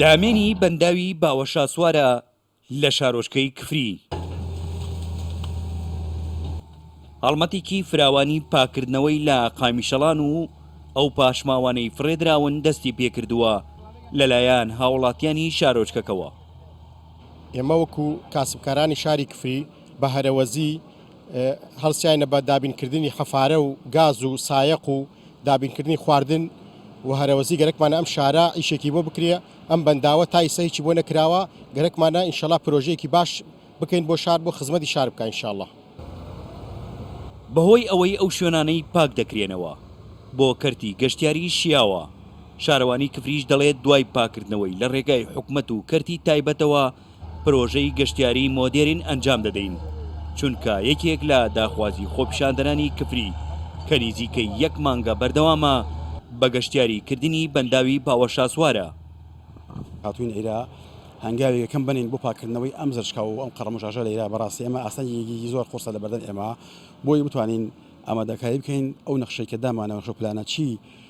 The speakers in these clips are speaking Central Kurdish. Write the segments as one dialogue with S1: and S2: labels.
S1: دامێنی بەنداوی باوەشاسوارە لە شارۆچکەی کفری. هەڵمەتێکی فراوانی پاکردنەوەی لە قامیشەڵان و ئەو پاشماوانەی فڕێدراون دەستی پێکردووە لەلایەن هاوڵاتیانی شارۆچکەکەوە.
S2: ئێمە وەکو کاسبکارانی شاری کفری بە هەرەوەزی هەڵسیاینە بە دابینکردنی حەفارە و گاز و سایەق و دابینکردنی خواردن و هەرەوەزی گەرەکمانە ئەم شارە ئیشێکی بۆ بکرێ ئەم بەنداوە تا ئیسە هیچی بۆ نەکراوە گەرەکمانە ئینشەڵا پرۆژەیەکی باش بکەین بۆ شار بۆ خزمەتی شار بکە ئینشەڵا.
S1: بەهۆی ئەوەی ئەو شوێنانەی پاک دەکرێنەوە بۆ کەرتی گەشتیاری شیاوە، شارەوانی کفریش دەڵێت دوای پاککردنەوەی لە رێگای حکومەت و کەرتی تایبەتەوە، پرۆژەی گەشتیاری مۆدێرن ئەنجام دەدەین، چونکە یەکێک لە داخوازی خۆپیشاندەرانی کفری کە نیزیکەی یەک مانگە بەردەوامە بە گەشتیاری کردنی بەنداوی باوەشاسوارە.
S3: هاتووین ئیرە هەنگاوی یەکەم بنێین بۆ پاککردنەوەی ئەم زرچکە و ئەم قەرەموشاشە لە ئیرە، بەڕاستی ئێمە ئاستەنگێکی زۆر قورسە لەبەردەم ئێمە بۆی بتوانین ئامادەکاری بکەین ئەو نەخشەی کە دامانەوە نەخشەو پلانە چی،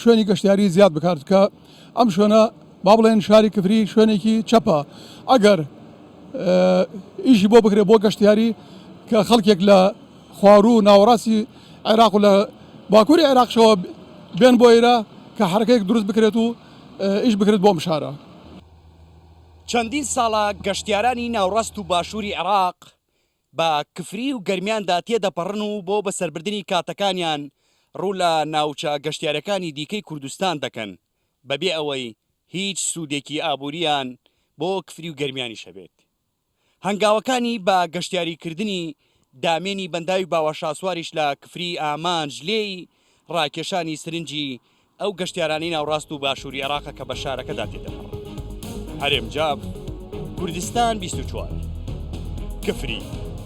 S4: شوێنی گەشتیاری زیاد بکات کە ئەم شوێنە با بڵێن شاری کفری شوێنێکی چەپە ئەگەر ئیشی بۆ بکرێت بۆ گەشتیاری کە خەڵکێک لە خوارو و ناوەڕاستی عێراق لە باکووری عێراقشەوە بێن بۆ ئێرە کە حرەکەێک دروست بکرێت و ئیش بکرێت بۆم شارە.
S1: چەندین ساڵە گەشتیارانی ناوڕاست و باشووری عێراق بە کفری و گەرمیاندا تێدەپەڕن و بۆ بەسەربردنی کاتەکانیان ڕوو لە ناوچە گەشتیارەکانی دیکەی کوردستان دەکەن بەبێ ئەوەی هیچ سوودێکی ئابوورییان بۆ کفری و گەرمیانیش هەبێت. هەنگاوەکانی بە گەشتیاریکردنی دامێنی بەنداوی باوەشاسواریش لە کفری ئامانج لێی ڕاکێشانی سرنجی ئەو گەشتیارانەی ناوڕاست و باشووری عێراقە کە بە شارەکەدا تێدەپەڕن. هەرێم جا کوردستان بیست و چوار. کفری.